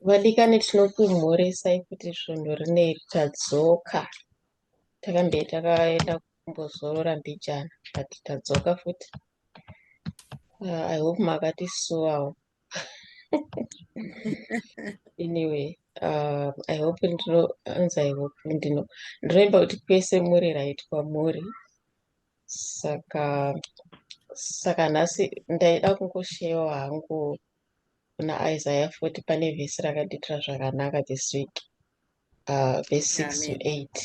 Vadikani tinokumhoresai kuti svondo rineri tadzoka takambe takaenda kumbozorora mbijana but tadzoka futi uh, i hope makatisuwawo anyway uh, i hope ndinoanza i hope ndino ndinoimba kuti kwese muri right kwamuri saka saka nhasi ndaida kungoshewa hangu kuna isaya futi pane vhesi rakadiitira zvakanaka this week uh, vhesi six to eight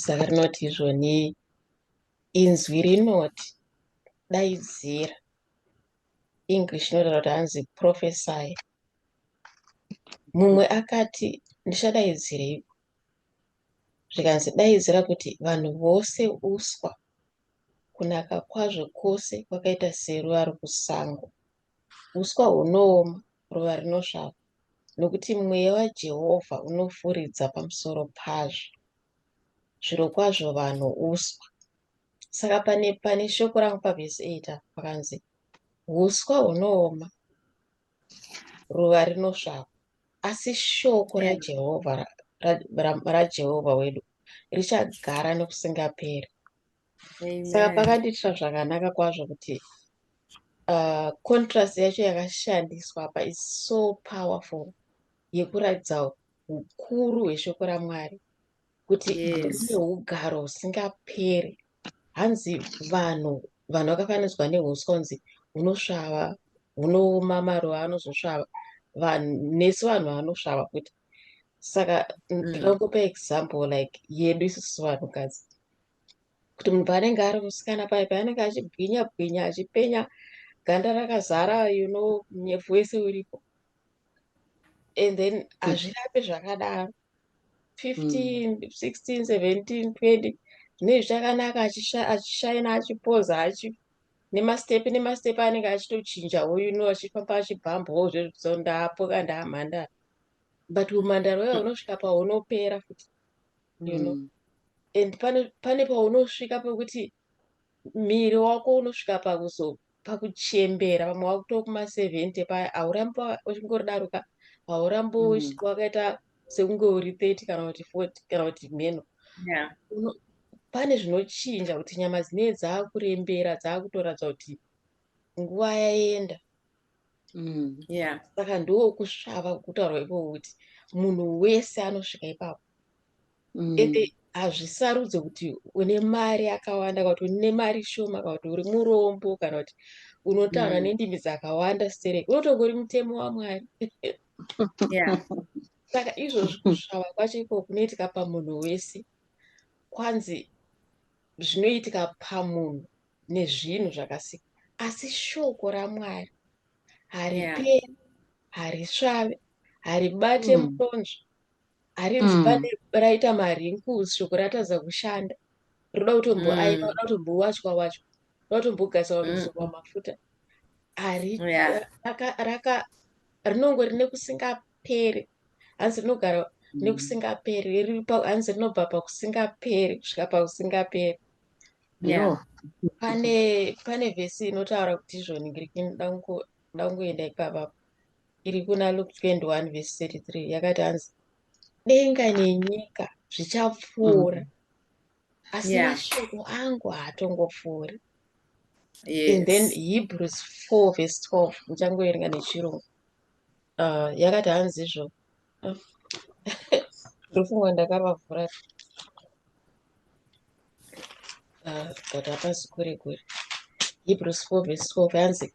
saka rinoti izvoni inzwi rinoti daidzira english inotaura kuti hanzi profesai mumwe akati ndichadaidzireiko Zvikanzi, Daidzira kuti vanhu vose uswa, kunaka kwazvo kwose kwakaita seruva rokusango. Uswa hunooma, ruva rinosvava, nokuti mweya waJehovha unofuridza pamusoro pazvo. Zvirokwazvo vanhu uswa. Saka pane, pane shoko rangu pavhesi 8 apa pakanzi, Uswa hunooma, ruva rinosvava. Asi shoko raJehovha raJehovha wedu richagara nokusingaperi. Saka pakandiitira zvakanaka kwazvo kuti uh, contrast yacho yakashandiswa apa is so powerful yekuratidza ukuru hweshoko raMwari kuti yes. ugaro usingaperi hanzi vanhu vanhu vakafananidzwa neuswa kunzi hunosvava hunooma maruva anozosvava vanhu nesu vanhu vanosvava futi saka ndinongopa mm. example like yedu isusu vanhukadzi kuti munhu paanenge ari musikana paye paanenge achibwinya bwinya achipenya ganda rakazara you know nyefu wese uripo and then hazvirapi zvakadaro 15 mm. 16 17 20 zvinei zvichakanaka achishaina achipoza achi nemastepi nemastepi anenge achitochinja uyu no achifamba achibhambawo zvezvo ndapoka ndaamhandara but umhandara uya unosvika paunopera futi you know mm. and pane paunosvika pekuti Miri wako unosvika pakuzo pakuchembera vamwe vakuto kuma 70 paya haurambi uchingoridaro ka haurambi mm. wakaita sekunge uri 30 kana kuti 40 kana kuti mheno yeah. pane zvinochinja kuti nyama dzinee dzaakurembera dzaakutoratidza kuti nguva yaenda mm, yeah. saka ndoo kusvava kutaurwa ikoko kuti munhu wese anosvika ipapo mm. ende hazvisarudze kuti une mari akawanda kana kuti une mari shoma kana kuti uri murombo kana kuti unotaura mm. nendimi dzakawanda stereki unotongori mutemo wamwari saka izvozvi kusvava kwacho iko kunoitika pamunhu wese kwanzi zvinoitika pamunhu nezvinhu zvakasika asi shoko ramwari hariperi harisvave haribate mm. mutonzvo harinzi mm. pane raita marinkles shoko ratadza kushanda roda kutomboaina mm. roda kutombowachwa wachwa roda kutombogasa wamizorwa mm. mafuta ari yeah. raka, raka rinongo rine kusingaperi hanzi rinogara mm. nekusingaperi hanzi rinobva pakusingaperi kusvika pakusingaperi yeah. pane pane vhesi inotaura kuti izvoni ngiriki ndakungoenda ipavapo iri kuna Luke 21 verse 33 yakati hanzi denga nenyika zvichapfuura asi Yeah. mashoko angu haatongopfuuri and then Yes. hebrews 4 verse 12 ndichangoerenga nechirungu uh, yakati hanzi izvo ndofungwa ndakavavhura uh, but hapasi kure kure hebrews 4 verse 12 hanzi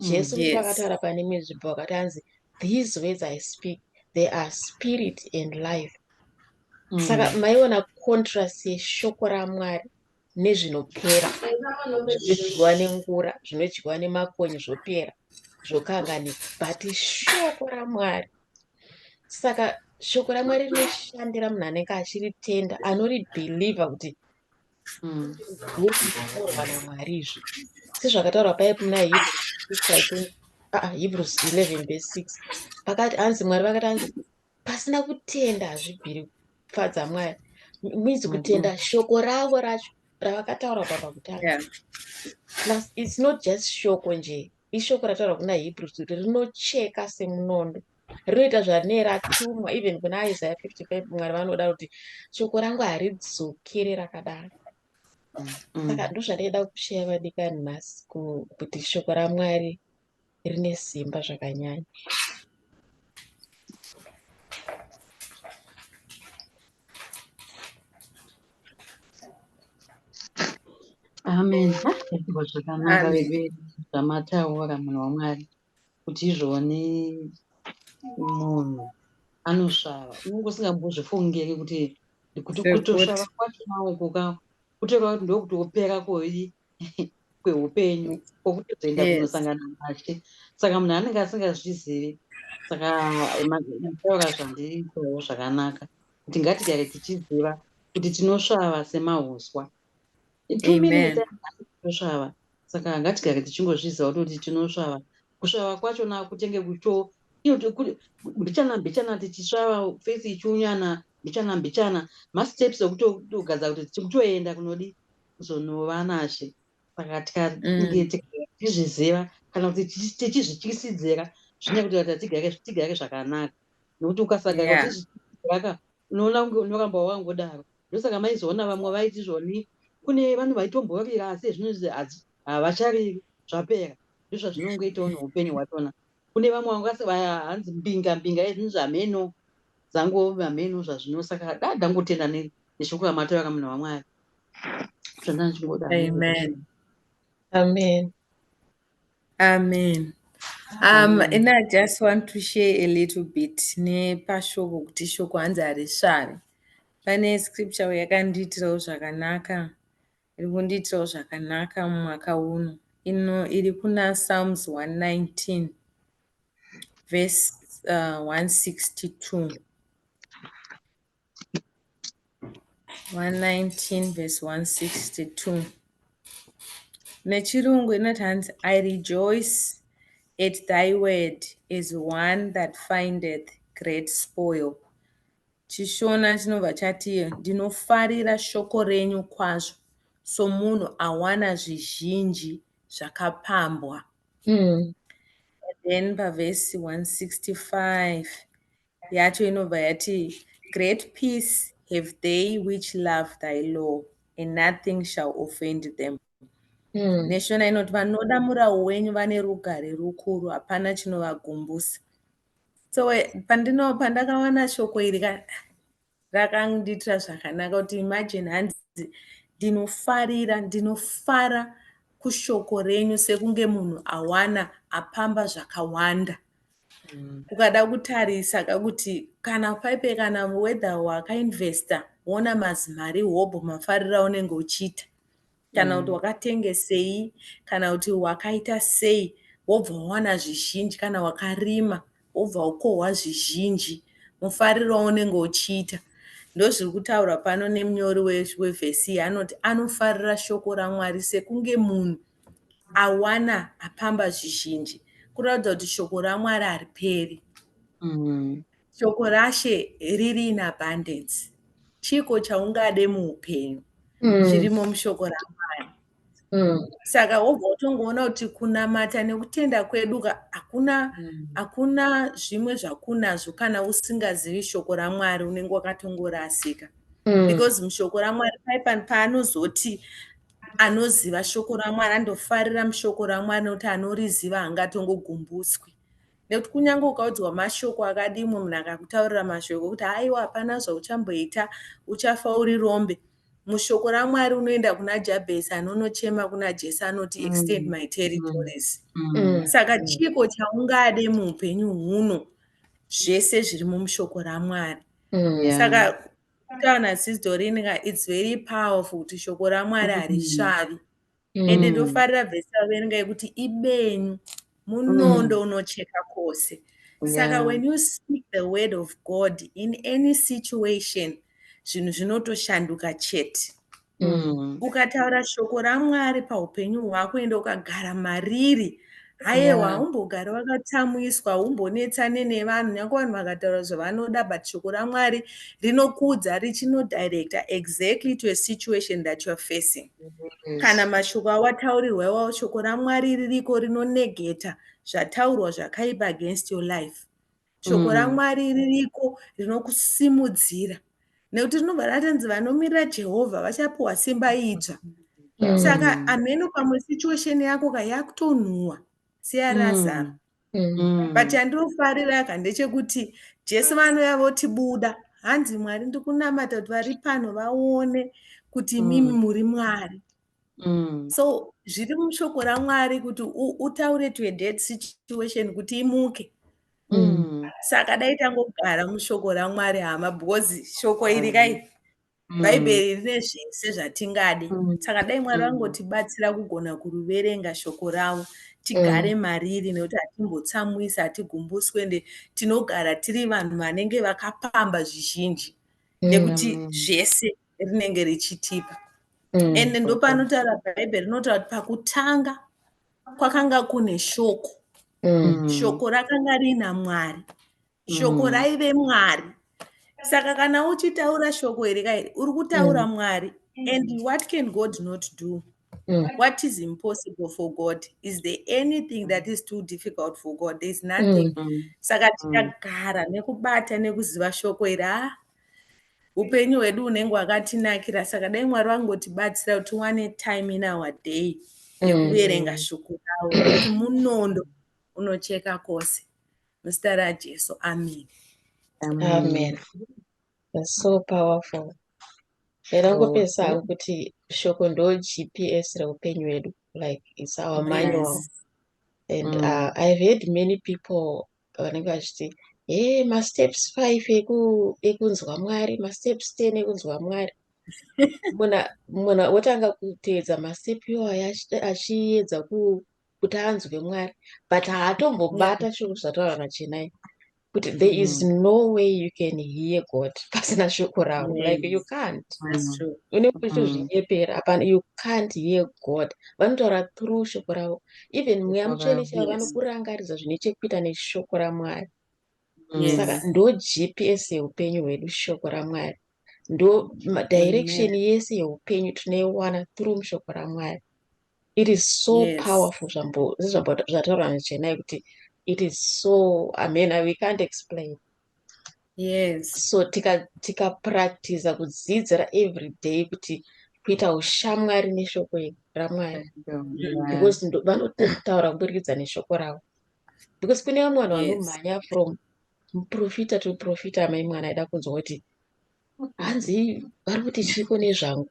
jesu yes. pakataura pane imwe nzvimbo wakati anzi these words i speak they are spirit and life mm. saka maiona contrast yeshoko ramwari nezvinopera zvinodyiwa nengura zvinodyiwa nemakonye zvopera zvokanganika but shoko ramwari saka shoko ramwari rinoshandira munhu anenge achiritenda anoribhilivha kuti hmm. zvinotaurwa namwari izvi sezvakataurwa paye kuna hebrews 11 ah, vese 6 pakati hanzi mwari vakati hanzi pasina kutenda hazvibviri kufadza mwari means mm-hmm. kutenda shoko ravo racho ravakataura papa kutanga plus its not just shoko nje ishoko rataura kuna hebrews kuti rinocheka semunondo Rinoita zvanee ratumwa even kuna Isaiah 55 Mwari vanoda kuti shoko rangu haridzokere rakadaro. Mm. Saka ndozvandaida kushaya vadikani nhasi kuti shoko raMwari rine simba zvakanyanya. Amen. Zvakanaka vedu zvamataura munhu waMwari. kuti izvone munhu anosvava unenge usingambozvifungiri kuti kuti kutosvava kwacho maokoka kutoreva kuti ndokuti wopera koi kweupenyu kwokutozoenda yes. kunosangana nashe saka munhu anenge asingazvizivi saka mataura zvandiri kurevo zvakanaka kuti ngatigare tichiziva kuti tinosvava semauswa tinosvava saka ngatigare tichingozviziva kutoti tinosvava kusvava kwacho nakutenge kucho mbichana mbichana tichisvava fesi ichiunyana mbichana mbichana masteps okutogadza kuti tikutoenda kunodi kuzonova nashe saka tikatizviziva mm. kana kuti tichizvityisidzira zvine kuti vati tigare tigare zvakanaka nokuti ukasagara yeah. unoona kunge unoramba wangodaro Ndosaka maizoona vamwe vaiti zvoni kune vanhu vaitombovira asi zvinonzi hadzi havachariri zvapera ndozvazvinongoitawo neupenyu hwatona kune vamwe vangasi hanzi mbinga mbinga ezvinonzi hameno dzango hameno zvazvino saka da ndangotenda neshoko ramataura munhu wamwari zvandandichingoda amen amen Amen. Um, and I just want to share a little bit nepashoko kuti shoko hanzi harisvari. Pane scripture yakandiitirawo zvakanaka, iri kundiitirawo zvakanaka mumwaka uno. Ino iri kuna Psalms 119 verse uh, 162. 119 verse 162 nechirungu inoti hanzi i rejoice at thy word as one that findeth great spoil chishona chinobva chati ndinofarira shoko renyu kwazvo somunhu awana zvizhinji zvakapambwa mm. then pavhesi 165 yacho inobva yati great peace have they which love thy law and nothing shall offend them mm. neshona inoti vanoda murawo wenyu vane rugare rukuru hapana chinovagumbusa so eh, pandino pandakawana shoko iri ka Rakandiitira zvakanaka kuti imagine hanzi ndinofarira ndinofara kushoko renyu sekunge munhu awana apamba zvakawanda mm. ukada kutarisa kakuti kana paipe kana whether wakainvesta woona mazimari hobho mafarira unenge uchiita kana kuti mm. wakatengesei kana kuti wakaita sei wobva wawana zvizhinji kana wakarima wobva ukohwa zvizhinji mufariro waunenge uchiita ndozviri kutaurwa pano nemunyori wevhesi iyi anoti anofarira shoko ramwari sekunge munhu awana apamba zvizhinji kuratidza kuti shoko ramwari hariperi mm. Shoko raShe riri in abundance. Chiko chaungade muupenyu mm. chirimo mushoko raMwari. Mm. Saka wobva utongoona kuti kunamata nekutenda kwedu hakuna mm. hakuna zvimwe zvakunazvo kana usingazivi shoko raMwari unenge wakatongorasika. Mm. Because mushoko raMwari paipani paanozoti anoziva shoko ramwari andofarira mushoko ramwari nekuti anoriziva hangatongogumbuswi nekuti kunyange ukaudzwa mashoko akadii mumwe munhu akakutaurira mashoko ekuti haiwa hapana zvauchamboita uchafa uri rombe mushoko ramwari unoenda kuna jabhesi anonochema kuna jesu anoti mm. extend my territories mm. Mm. saka chiiko chaungade muupenyu huno zvese zviri mumushoko ramwari saka kutaura nasistorinka its very powerful kuti shoko ramwari harisvavi mm. ende ndofarira vhesi raverenga yekuti ibenyu munondo mm. unocheka kwose saka yeah. when you speak the word of god in any situation zvinhu zvinotoshanduka chete mm. ukataura shoko ramwari paupenyu hwako ende ukagara mariri ayewa haumbogari wakatsamwiswa haumbonetsane nevanhu nyange vanhu vakataura zvavanoda but shoko ramwari rinokudza richinodirecta exactly to a situation that youare facing kana mashoko awataurirwa iwawo shoko ramwari ririko rinonegeta zvataurwa zvakaipa against your life shoko mm. ramwari ririko rinokusimudzira nekuti rinobva ratanzi vanomirira jehovha vachapiwa simba idzva mm. saka amheno pamwe situation yako ka yakutonhuwa seyarazaro mm. mm. but yandinofarira ka ndechekuti jesu vanouya votibuda hanzi mwari ndikunamata kuti vari pano vaone kuti imimi mm. muri mwari mm. so zviri mushoko ramwari kuti utaure to a dead situation kuti imuke mm. saka dai tangogara mushoko ramwari hama because shoko iri mm. kai mm. bhaibheri rine zvese zvatingadi mm. saka dai mwari mm. vangotibatsira kugona kuruverenga shoko ravo tigare mm. mariri nekuti hatimbotsamwisi hatigumbuswe nde tinogara tiri vanhu vanenge vakapamba zvizhinji nekuti mm. zvese rinenge richitipa mm, and ndopanotaura bhaibheri rinotaura kuti pakutanga kwakanga kune shoko mm. shoko rakanga riina mwari shoko mm. raive mwari saka kana uchitaura shoko iri kairi uri kutaura mm. mwari and what can god not do mm. Mm. What is impossible for God? Is there anything that is too difficult for God? There is nothing. Mm. Saka mm. tikagara nekubata nekuziva shoko iri ah, upenyu hwedu unenge wakatinakira saka dai mwari vangotibatsira kuti tiwane time in our day yekuverenga mm. shuku ravo kuti munondo unocheka kose muzita rajesu amen amen That's so powerful era kupesa hangu kuti shoko ndo gps reupenyu hwedu like its our manual yes. and mm. uh, i've heard many people pavanenge vachiti hee masteps five ekunzwa mwari masteps ten ekunzwa mwari munhu wotanga kuteedza mastep iwayo achiedza kuti anzwe mwari but haatombobata shoko zvataura nachenai kuti there is mm. no way you can hear god pasina shoko ravo like you can't unenge uchitozvinyepera apana you can't hear god vanotaura through shoko ravo even mweya mutsvene chaivo vanokurangaridza zvine chekuita neshoko ramwari mm. saka ndo gps yeupenyu hwedu shoko ramwari ndo direction yese yeupenyu tinoiwana through mushoko ramwari it is so yes. powerful zvambotaura nechenai kuti it is so amena we can't explain yes so tikapractiza tika kudzidzira every day kuti kuita ushamwari neshoko ramwari because vanotaura kuburikidza neshoko ravo because kune vamwe vanhu vanomhanya from muprofita to profita amai mwana aida kunzwa kuti hanzi vari kuti chiiko nezvangu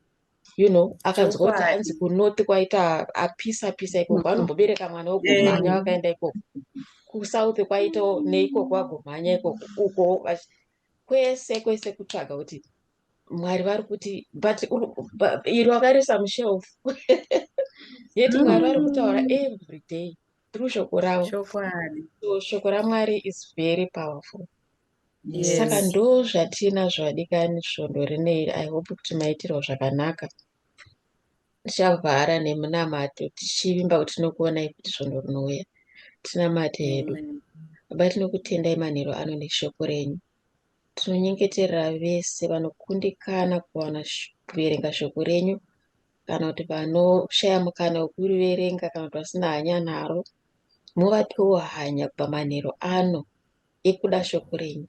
you know akanzwa kuti Chokwadi. hanzi kunot kwaita apisa pisa ikoko anombobereka mwana wegomhanya Eh. vakaenda ikoko kusouth kwaito neikoko agomhanya ikoko uko vachi- kwese kwese kutsvaga kuti mwari vari kuti but uri- ba- iri wakarisa mushelf yet mwari vari kutaura every day through shoko ravo chokwadi so shoko ramwari is very powerful Yes. Saka ndo zvatinazvo vadikani svondo rino iri. I hope kuti maitirwa zvakanaka. Tichavhara nemunamato tichivimba kuti tinokuonai futi svondo rinouya. Tinamate hedu. Amen. Baba tinokutendai manheru ano neshoko renyu. Tinonyengeterera vese vanokundikana kuwana sh- kuverenga shoko renyu kana kuti vanoshaya mukana wekuriverenga kana kuti vasina hanya naro. Muvapewo hanya kubva manheru ano yekuda shoko renyu,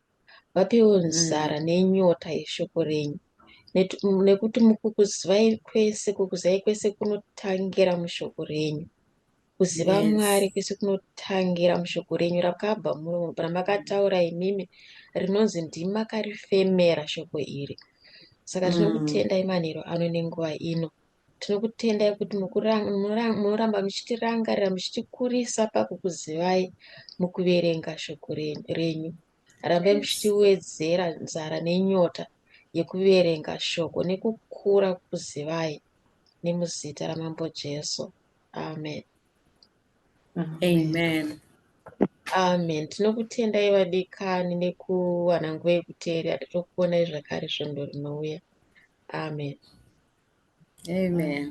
vapewo mm. nzara mm. nenyota yeshoko renyu nekuti mukukuzivai kwese kukuzivai kwese kunotangira mushoko renyu kuziva yes. mwari kwese kunotangira mushoko renyu rakabva muromo ramakataura imimi rinonzi ndimakarifemera shoko iri saka mm. tinokutendai manhero ano nenguva ino Tinokutendai kuti munoramba muchitirangarira muchitikurisa pakukuzivai mukuverenga shoko renyu. Rambai muchitiwedzera nzara nenyota yekuverenga shoko nekukura kukuzivai nemuzita ramambo Jesu. Amen. amen amen tinokutendai vadikani nekuwana nguva yekuteerera tokuonai zvakare svondo rinouya amen amen